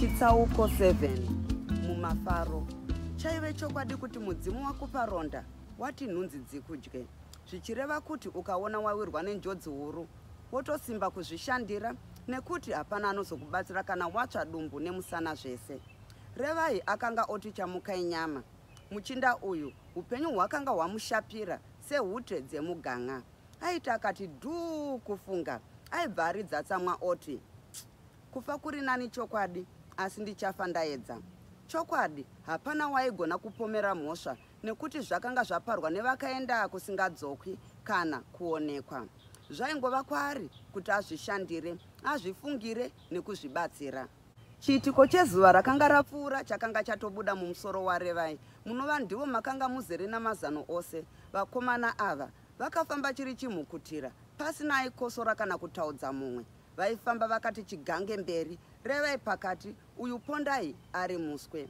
chitsauko 7 mumafaro chaive chokwadi kuti mudzimu wakupa ronda wati nhunzi dzikudye zvichireva kuti ukaona wawirwa nenjodzi huru wotosimba kuzvishandira nekuti hapana anozokubatsira kana watsva dumbu nemusana zvese revai akanga oti chamukai nyama muchinda uyu upenyu hwakanga hwamushapira sehute dzemuganga aiti akati dhuu kufunga aibva aridza tsamwa oti kufa kuri nani chokwadi asi ndichafa ndaedza chokwadi hapana waigona kupomera mhosva nekuti zvakanga zvaparwa nevakaenda kusingadzokwi kana kuonekwa zvaingova kwaari kuti azvishandire azvifungire nekuzvibatsira chiitiko chezuva rakanga rapfuura chakanga chatobuda mumusoro warevai munova ndivo makanga muzere namazano ose vakomana ava vakafamba chiri chimhukutira pasina aikosora kana kutaudza mumwe vaifamba vakati chigange mberi revai pakati uyu pondai ari muswe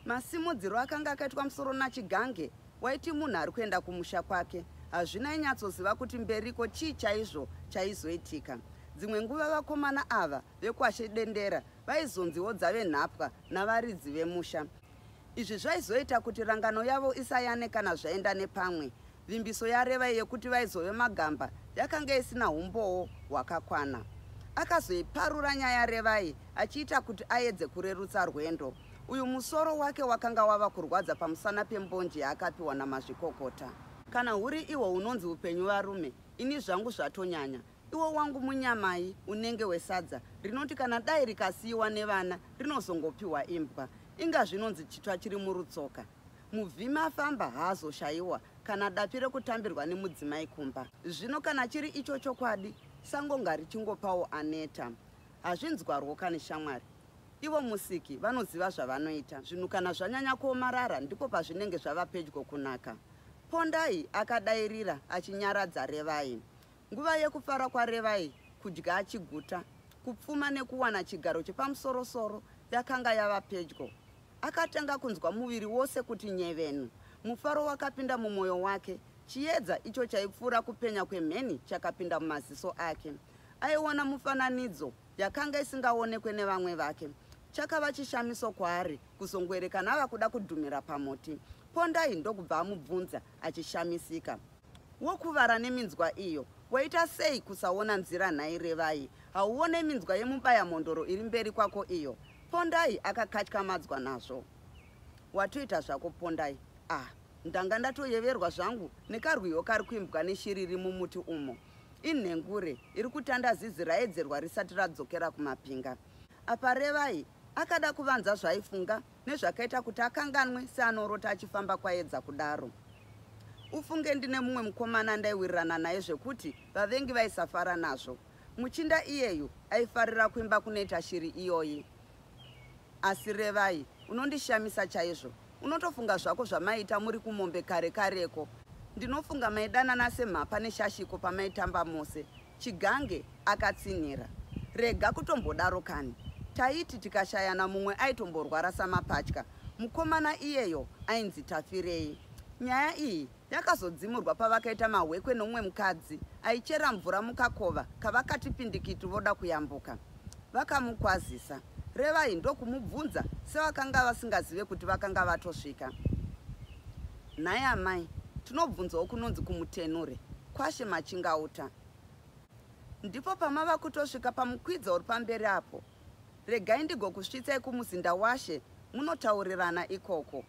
Masimudziro akanga akaitwa musoro naChigange waiti munhu ari kuenda kumusha kwake. Hazvina ainyatsoziva kuti mberiko chii chaizvo chaizoitika. Dzimwe nguva vakomana ava vekuAshe Dendera vaizonziwo dzave nhapwa navaridzi vemusha. Izvi zvaizoita kuti rangano yavo isayane kana zvaenda nepamwe. Vimbiso yaRevai yekuti vaizove magamba yakanga isina umbowo hwakakwana. Akazoiparura nyaya yaRevai achiita kuti aedze kurerutsa rwendo. Uyu musoro wake wakanga wava kurwadza pamusana pembonje yaakapiwa namazvikokota. Kana huri iwo unonzi upenyu varume, ini zvangu zvatonyanya. Iwo wangu munyamai unenge wesadza rinoti kana dai rikasiyiwa nevana rinozongopiwa imbwa. Inga zvinonzi chitsva chiri murutsoka. Muvhimi afamba haazoshaiwa kana dapi rekutambirwa nemudzimai kumba. Zvino kana chiri icho chokwadi, sango ngarichingopawo aneta. Hazvinzwarwo kani shamwari. Ivo musiki vanoziva zvavanoita. Zvinhu kana zvanyanya kuomarara ndipo pazvinenge zvava pedyo kunaka. Pondai akadairira achinyaradza Revai. Nguva yekufara kwaRevai kudya achiguta, kupfuma nekuwana chigaro chepamusorosoro yakanga yava pedyo. Akatanga kunzwa muviri wose kuti nyevenu. Mufaro wakapinda mumwoyo wake. Chiedza icho chaipfuura kupenya kwemheni chakapinda mumaziso ake. Aiona mufananidzo yakanga isingaonekwe nevamwe vake. Chakava chishamiso kwaari kuzongoerekana ava kuda kudhumira pamuti. Pondai ndokubva amubvunza achishamisika. Wokuvara neminzwa iyo, waita sei kusaona nzira nhai Revai? Hauone minzwa yemubaya mhondoro iri mberi kwako iyo? Pondai akakatyamadzwa nazvo. Watoita zvako Pondai. Ah, ndanga ndatoyeverwa zvangu nekarwiyo kari kuimbwa neshiri iri mumuti umo. Inhengure iri kutanda zizi raedzerwa risati radzokera kumapinga. Apa Revai akada kuvanza zvaaifunga nezvakaita kuti akanganwe seanorota achifamba kwaedza kudaro ufunge ndine mumwe mukomana andaiwirirana naye zvekuti vavengi vaisafara nazvo muchinda iyeyu aifarira kuimba kunoita shiri iyoyi asi revai unondishamisa chaizvo unotofunga zvako zvamaiita muri kumombe kare kareko ndinofunga maidanana semhapa neshashiko pamaitamba mose Chigange akatsinhira. Rega kutombodaro kani. Taiti tikashayana mumwe aitomborwara samapatya. Mukomana iyeyo ainzi Tafirei. Nyaya iyi yakazodzimurwa pavakaita mahwekwe nomwe mukadzi aichera mvura mukakova kavakati pindikiti voda kuyambuka. Vakamukwazisa. Revai ndokumubvunza sevakanga vasingazive kuti vakanga vatosvika. Nhai amai, tinobvunzawo kunonzi kumutenure. Kwashe Machingauta. Ndipo pamava kutosvika pamukwidzo uri pamberi apo. Regai ndigokusvitsai kumuzinda washe munotaurirana ikoko.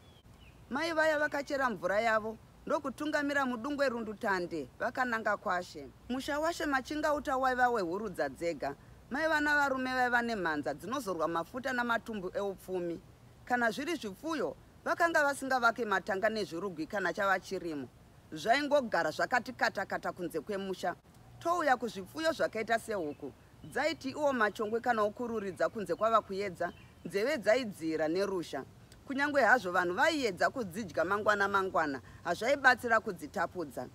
Mai vaya vakachera mvura yavo ndokutungamira mudungwe rundutande vakananga kwashe. Musha washe Machingauta waiva wehurudza dzega. Mai vana varume vaiva nemhanza dzinozorwa mafuta namatumbu eupfumi. Kana zviri zvipfuyo, vakanga vasingavake matanga nezvirugwi kana chava chirimo. zvaingogara zvakati katakata kunze kwemusha touya kuzvipfuyo zvakaita sehuku dzaiti iwo machongwe kana okururidza kunze kwava kuyedza nzeve dzaidziira nerusha kunyange hazvo vanhu vaiyedza kudzidya mangwana mangwana hazvaibatsira kudzitapudza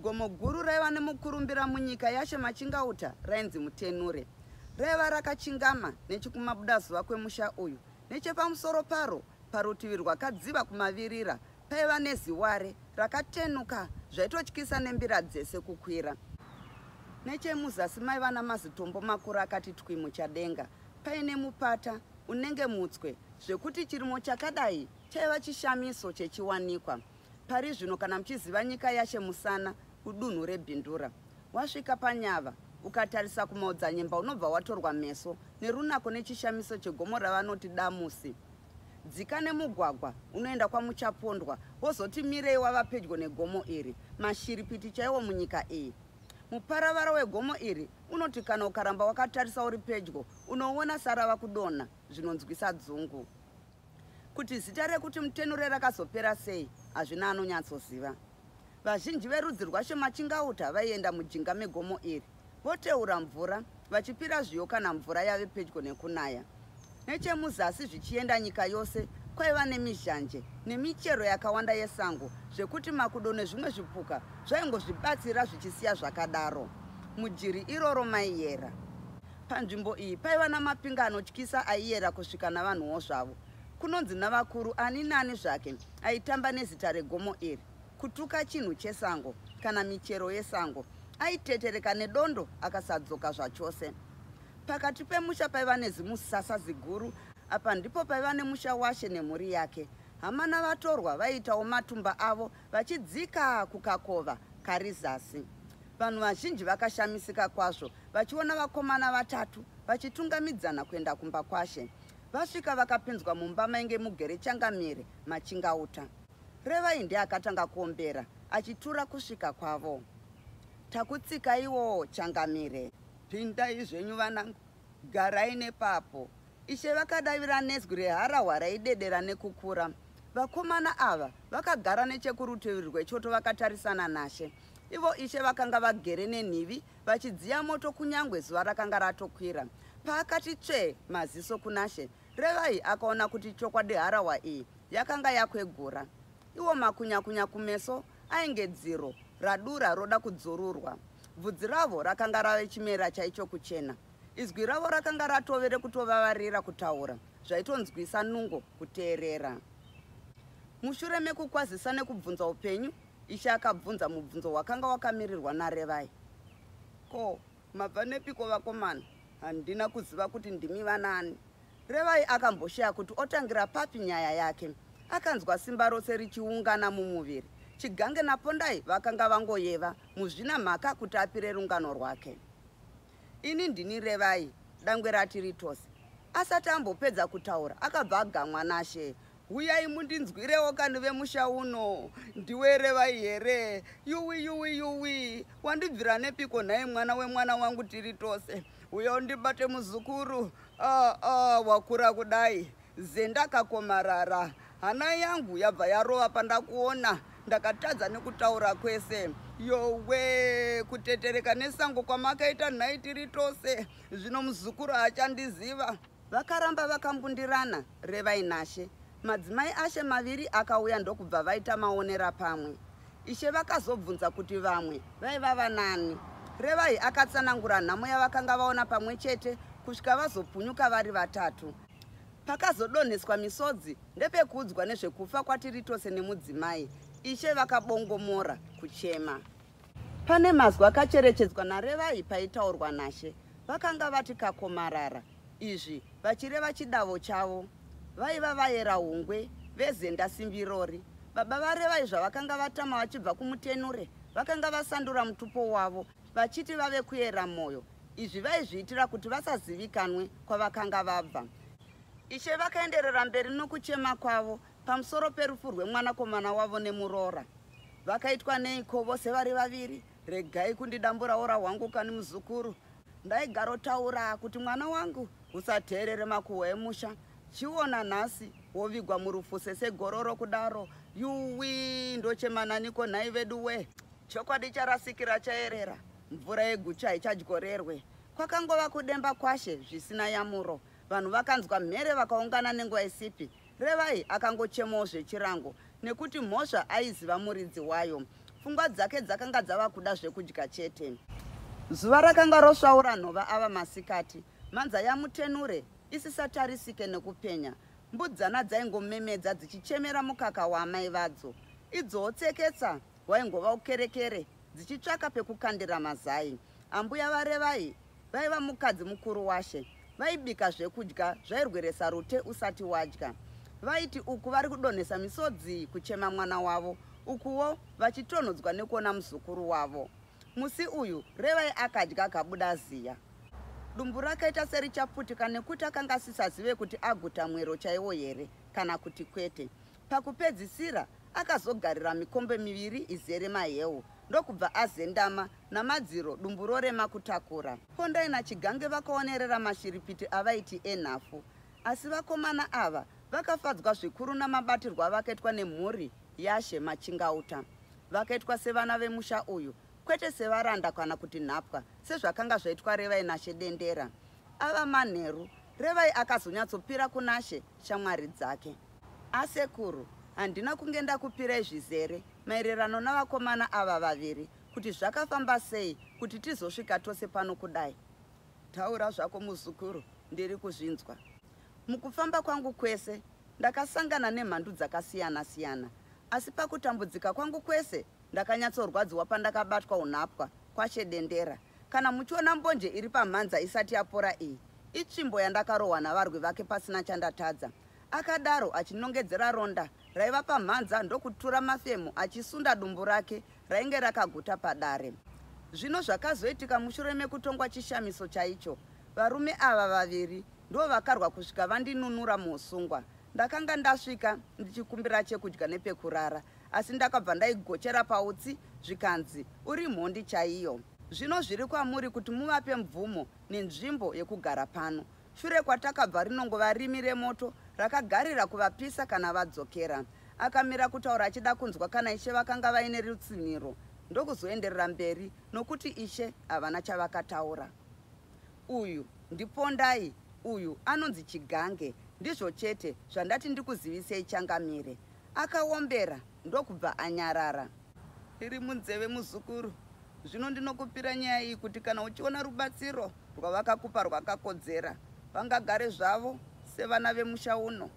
gomo guru raiva nemukurumbira munyika yashe machingauta rainzi mutenure raiva rakachingama nechikumabudazuva kwemusha uyu nechepamusoro paro parutivi rwakadziva kumavirira Paiva neziware rakatenuka zvaitotyisa nembira dzese kukwira. Nechemuzasi maiva namazitombo makuru akati twi muchadenga paine mupata unenge mutswe zvekuti chirimo chakadai chaiva chishamiso chechiwanikwa. Pari zvino kana muchiziva nyika yashe musana kudunhu rebindura wasvika panyava ukatarisa kumaodzanyemba unobva watorwa meso nerunako nechishamiso chegomo ravanoti damusi Dzika nemugwagwa unoenda kwaMuchapondwa wozoti mirei wava pedyo negomo iri. Mashiripiti chaiwo munyika iyi. Muparavara wegomo iri unoti kana ukaramba wakatarisa uri pedyo unoona sarava kudonha zvinonzwisa dzungu. Kuti zita rekuti Mutenure rakazopera sei hazvina anonyatsoziva. Vazhinji verudzi rwaShemachingauta vaienda mujinga megomo iri. voteura mvura vachipira zviyo kana mvura yave pedyo nekunaya nechemuzasi zvichienda nyika yose kwaiva nemizhanje nemichero yakawanda yesango zvekuti makudo nezvimwe zvipuka zvaingozvibatsira zvichisiya zvakadaro mujiri iroro maiyera panzvimbo iyi paiva namapinga anotyisa aiyera kusvika navanhuwo zvavo kunonzi navakuru ani nani zvake aitamba nezita regomo iri kutuka chinhu chesango kana michero yesango aitetereka nedondo akasadzoka zvachose pakati pemusha paiva nezimusasa ziguru apa ndipo paiva nemusha washe nemhuri yake hama navatorwa vaiitawo matumba avo vachidzika kukakova kari zasi vanhu vazhinji vakashamisika kwazvo vachiona vakomana vatatu vachitungamidzana kuenda kumba kwashe vasvika vakapinzwa mumba mainge mugere changamire machingauta Revai ndiye akatanga kuombera achitura kusvika kwavo. Takutsikai-wo changamire. Pindai zvenyu vanangu, garai nepapo. Ishe vakadavira nezwi reharahwa raidedera nekukura. Vakomana ava vakagara nechekurutivi rwechoto vakatarisana naShe. Ivo Ishe vakanga vagere nenhivi vachidziya moto kunyangwe zuva rakanga ratokwira. Paakati tsvee maziso kunaShe, Revai akaona kuti chokwadi harahwa iyi yakanga yakwegura. Iwo makunyakunya kumeso ainge dziro radura roda kudzururwa. Bvudzi ravo rakanga rave chimera chaicho kuchena. Izwi ravo rakanga ratove rekutovavarira kutaura zvaitonzwisa nungo kuteerera. Mushure mekukwazisa nekubvunza upenyu, Ishe akabvunza mubvunzo wakanga wakamirirwa naRevai. Ko, Mabva nepiko vakomana? Handina kuziva kuti ndimi vanani. Revai akamboshaya kuti otangira papi nyaya yake. Akanzwa simba rose richiungana mumuviri. Chigange naPondai vakanga vangoyeva muzvina mhaka kuti apire rungano rwake. Ini ndini Revai, dangwe rati ritose. Asati ambopedza kutaura, akabva agamwa naShe. huyai mundinzwirewo kani vemusha uno ndiwe revai here yuwi yuwi yuwi wandibvira nepiko nhai mwana wemwana wangu tiri tose uya undibate muzukuru ah, ah, wakura kudai zendakakomarara hana yangu yabva yarova pandakuona ndakatadza nekutaura kwese yowe kutetereka nesango kwamakaita nhai tiri tose zvino muzukuru haachandiziva Vakaramba vakambundirana Revai naShe. Madzimai aShe maviri akauya ndokubva vaita maonera pamwe. Ishe vakazobvunza kuti vamwe vaiva vanani. Revai akatsanangura nhamo yavakanga vaona pamwe chete kusvika vazopunyuka vari vatatu. Pakazodonheswa misodzi ndepekuudzwa nezvekufa kwaTiritose nemudzimai. Ishe vakabongomora kuchema. Pane mazwi akacherechedzwa naRevai paitaurwa naShe. Vakanga vati kakomarara, izvi vachireva chidavo chavo. Vaiva vaera hungwe vezenda simbirori. Baba vaRevai zvavakanga vatama vachibva kumutenure, vakanga vasandura mutupo wavo vachiti vave kuera mwoyo. Izvi vaizviitira kuti vasazivikanwe kwavakanga vabva. Ishe vakaenderera mberi nokuchema kwavo Pamusoro perufu rwemwanakomana wavo nemuroora vakaitwa neiko vose vari vaviri regai kundidambura ora hwangu kani muzukuru ndaigarotaura kuti mwana wangu usateerere makuhwa emusha chiona nhasi wovigwa murufu sesegororo kudaro yuwi ndochemananiko nhai vedu we chokwadi charasikira chaerera mvura yegucha haichadyorerwe kwakangova kudemba kwashe zvisina yamuro vanhu vakanzwa mhere vakaungana nenguva isipi Revai akangochemawo zvechirango nekuti mhosva aiziva muridzi wayo. Pfungwa dzake dzakanga dzava kuda zvekudya chete. Zuva rakanga rosvaura nhova ava masikati. Mhanza yaMutenure isisatarisike nekupenya. Mbudzana dzaingomemedza dzichichemera mukaka waamai vadzo. Idzowo tseketsa hwaingova ukerekere dzichitsvaka pekukandira mazai. Ambuya vaRevai vaiva mukadzi mukuru washe. Vaibika zvekudya zvairweresa rute usati wadya. Vaiti uku vari kudonhesa misodzi kuchema mwana wavo, ukuwo vachitonhodzwa nekuona muzukuru wavo. Musi uyu Revai akadya akabuda ziya. Dumbu rakaita serichaputika nekuti akanga asisazive kuti aguta mwero chaiwo here kana kuti kwete. Pakupedzisira akazogarira mikombe miviri izere mahewu ndokubva azendama namadziro dumbu rorema kutakura. Pondai naChigange vakaonerera mashiripiti avaiti enhafu asi vakomana ava vakafadzwa zvikuru namabatirwo avakaitwa nemhuri yaShe Machingauta. Vakaitwa sevana vemusha uyu kwete sevaranda kana kuti nhapwa sezvakanga zvaitwa Revai naShe Dendera. Ava manheru, Revai akazonyatsopira kunaShe shamwari dzake. Asekuru, handina kunge ndakupirai zvizere maererano navakomana ava vaviri kuti zvakafamba sei kuti tizosvika tose pano kudai. Taura zvako muzukuru, ndiri kuzvinzwa. Mukufamba kwangu kwese ndakasangana nemhandu dzakasiyana siyana asi pakutambudzika kwangu kwese ndakanyatsorwadziwa pandakabatwa unhapwa kwashe dendera kana muchiona mbonje iri pamhanza isati yapora iyi itsvimbo yandakarohwa navarwi vake pasina chandatadza Akadaro achinongedzera ronda raiva pamhanza ndokutura mafemo achisunda dumbu rake rainge rakaguta padare. Zvino zvakazoitika mushure mekutongwa chishamiso chaicho, varume ava vaviri ndivo vakarwa kusvika vandinunura muusungwa. Ndakanga ndasvika ndichikumbira chekudya nepekurara, asi ndakabva ndaigochera pautsi zvikanzi uri mhondi chaiyo. Zvino zviri kwamuri kuti muvape mvumo nenzvimbo yekugara pano. Shure kwatakabva rinongo varimi remoto rakagarira kuvapisa kana vadzokera. Akamira kutaura achida kunzwa kana ishe vakanga vaine rutsinhiro ndokuzoenderera mberi nokuti ishe havana chavakataura. Uyu ndipondai uyu anonzi chigange ndizvo chete zvandati ndikuzivisei changamire. Akaombera ndokubva anyarara. iri munzeve muzukuru zvino ndinokupira nyaya iyi kuti kana uchiona rubatsiro rwavakakupa rwakakodzera vangagare zvavo sevana vemusha uno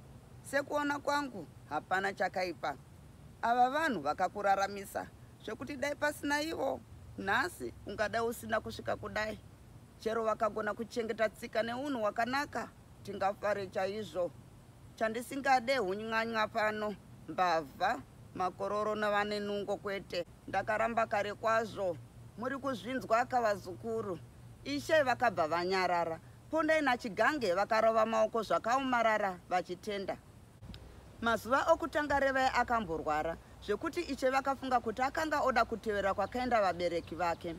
sekuona kwangu hapana chakaipa ava vanhu vakakuraramisa zvekuti dai pasina ivo nhasi ungadai usina kusvika kudai chero vakagona kuchengeta tsika neunhu wakanaka tingafare chaizvo Chandisingade huny'any'a pano, mbavha, makororo navane nungo kwete. Ndakaramba kare kwazvo. Muri kuzvinzwa ka vazukuru? Ishe vakabva vanyarara. Pondai naChigange vakarova maoko zvakaomarara vachitenda. Mazuva okutanga Revai akamborwara zvekuti Ishe vakafunga kuti akanga oda kutevera kwakaenda vabereki vake.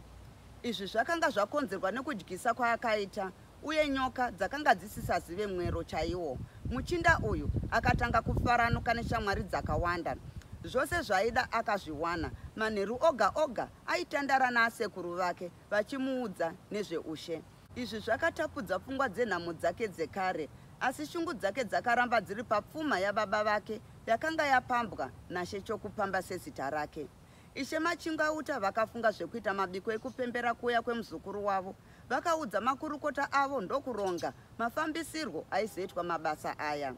Izvi zvakanga zvakonzerwa nekudyisa kwaakaita uye nyoka dzakanga dzisisazive mwero chaiwo. Muchinda uyu akatanga kufaranuka neshamwari dzakawanda. Zvose zvaida akazviwana. Manheru oga oga aitandara naasekuru vake vachimuudza nezveushe. Izvi zvakatapudza pfungwa dzenhamo dzake dzekare, asi shungu dzake dzakaramba dziri papfuma yababa vake yakanga yapambwa naShe Chokupamba sezita rake. Ishe Machingauta vakafunga zvekuita mabiko ekupembera kuuya kwemuzukuru wavo. Vakaudza makurukota avo ndokuronga mafambisirwo aizoitwa mabasa aya.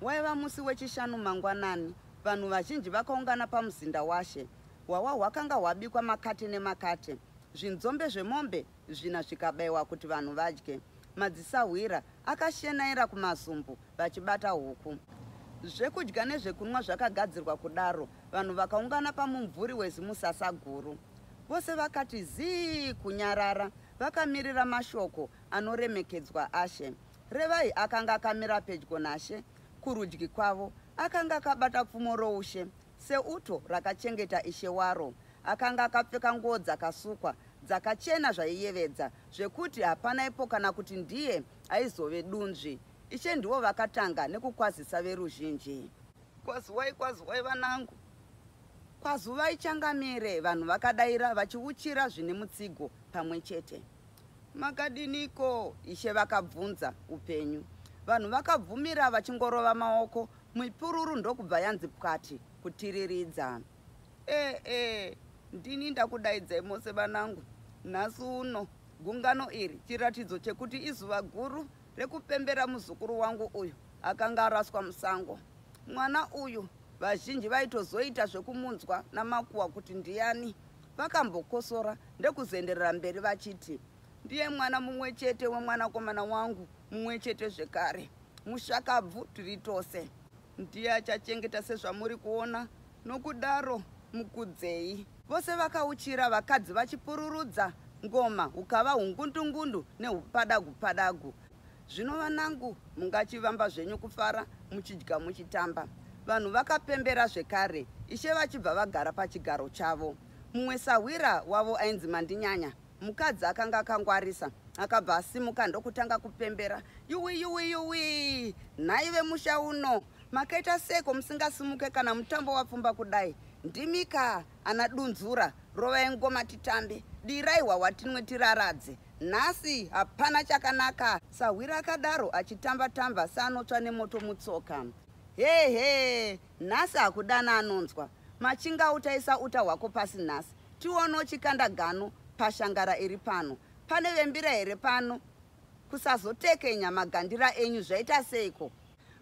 Waiva musi weChishanu mangwanani, vanhu vazhinji vakaungana pamuzinda washe. Hwahwa hwakanga hwabikwa makate nemakate, zvinzombe zvemombe zvina zvikabaiwa kuti vanhu vadye. Madzisahwira akashenaira kumazumbu vachibata huku. Zvekudya nezvekunwa zvakagadzirwa kudaro, vanhu vakaungana pamumvuri wezimusasa guru. Vose vakati zii kunyarara vakamirira mashoko anoremekedzwa ashe. Revai akanga akamira pedyo nashe kurudyi kwavo akanga akabata pfumo roushe seuto rakachengeta ishe waro. Akanga akapfeka nguo dzakasukwa dzakachena zvaiyevedza zvekuti hapana ipo kana kuti ndiye aizove dunzvi. Ishe ndivo vakatanga nekukwazisa veruzhinji. Kwazuvai kwazuvai vanangu. Kwazuvai changamire vanhu vakadaira vachiuchira zvine mutsigo pamwe chete. Makadiniko? Ishe vakabvunza upenyu. Vanhu vakabvumira vachingorova maoko mipururu ndokubva yanzi pwati kutiriridza. E e ndini ndakudaidzai mose vanangu. Nhasi uno gungano iri chiratidzo chekuti izuva guru rekupembera muzukuru wangu uyu akanga araswa musango. Mwana uyu vazhinji vaitozoita zvekumunzwa namakuwa kuti ndiyani. Vakambokosora ndekuzenderera mberi vachiti, ndiye mwana mumwe chete wemwanakomana wangu mumwe chete zvekare. Mushakabvu tiri tose. Ndiye achachengeta sezvamuri kuona, nokudaro mukudzei. Vose vakauchira, vakadzi vachipururudza ngoma, hukava hungundungundu nehupadagu-padagu. Zvino vanangu, mungachivamba zvenyu kufara, muchidya muchitamba. Vanhu vakapembera zvekare, ishe vachibva vagara pachigaro chavo. Mumwe sahwira wavo ainzi Mandinyanya Mukadzi akanga akangwarisa akabva asimuka ndokutanga kupembera yuwi yuwi yuwi nhai vemusha uno makaita seko musingasimuke kana mutambo wapfumba kudai ndimika ana dunzura rovai ngoma titambe dirai hwahwa tinwe tiraradze nhasi hapana chakanaka sahwira akadaro achitamba tamba seanotsva nemoto mutsoka hehe Nhasi hakudana anonzwa. Machinga utaisa uta hwako pasi nhasi. Tione uchikanda gano pashangara iri pano. Pane vembira here pano? Kusazotekenya magandira enyu zvaita seiko?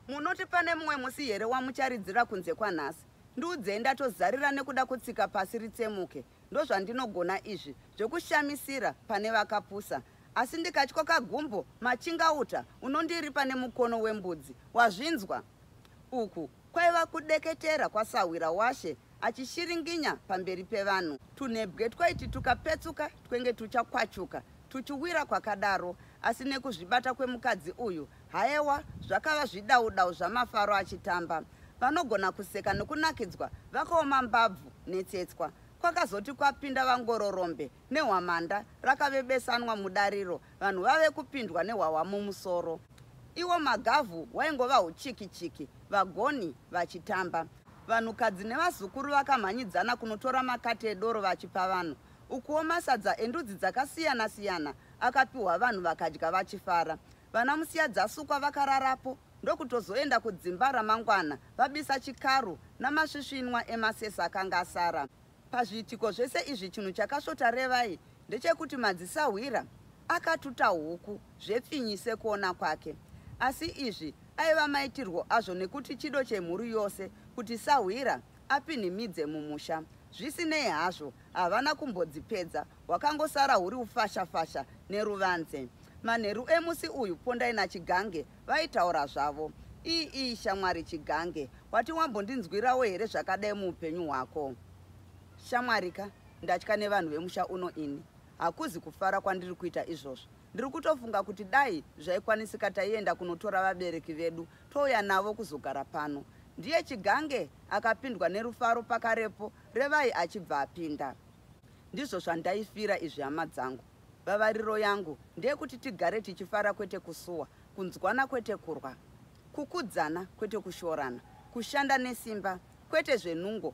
Munoti pane mumwe musi here wamucharidzira kunze kwanhasi? Ndiudzei ndatozarira nekuda kutsika pasi ritsemuke. ndozvandinogona izvi zvekushamisira pane vakapusa asi ndikatyo kagumbo machingauta unondiripa nemukono wembudzi wazvinzwa uku kwaiva kudeketera kwasahwira washe achishiringinya pamberi pevanhu tunebwe twaiti tukapetsuka twenge tuchakwachuka tuchiwira kwakadaro asi nekuzvibata kwemukadzi uyu Hayewa, zvakava zvidaudau zvamafaro achitamba. Vanogona kuseka nokunakidzwa vakaoma mbabvu netsetswa. Kwakazoti kwapinda vangororombe nehwamanda rakave besanwa mudariro, vanhu vave kupindwa nehwahwa mumusoro. Iwo magavhu waingova huchiki-chiki, vagoni vachitamba. Vanhukadzi nevazukuru vakamhanyidzana kunotora makate edoro vachipa vanhu. Ukuwo masadza endudzi dzakasiyana-siyana akapiwa vanhu vakadya vachifara. Vana musiya dzasukwa vakararapo ndokutozoenda kudzimba ramangwana vabisa chikaru namasvisvinwa emasesa akanga asara. Pazviitiko zvese izvi chinhu chakasvota Revai ndechekuti madzisahwira akatuta huku zvepfinyi sekuona kwake. Asi izvi aiva maitirwo azvo nekuti chido chemhuri yose kuti sahwira apinhimidze mumusha. Zvisinei hazvo, havana kumbodzipedza, hwakangosara huri ufashafasha neruvanze. Manheru emusi uyu Pondai naChigange vaitaura zvavo. Ii ii shamwari Chigange, wati wambondinzwirawo here zvakadai muupenyu hwako? Shamwari ka, ndatya nevanhu vemusha uno ini. Hakuzi kufara kwandiri kuita izvozvo. Ndiri kutofunga kuti dai zvaikwanisika taienda kunotora vabereki vedu Touya navo kuzogara pano. Ndiye Chigange akapindwa nerufaro pakarepo Revai achibva apinda. Ndizvo zvandaifira izvi hama dzangu. Vavariro yangu ndeyekuti tigare tichifara kwete kusuwa, kunzwana kwete kurwa, kukudzana kwete kushorana, kushanda nesimba kwete zvenungo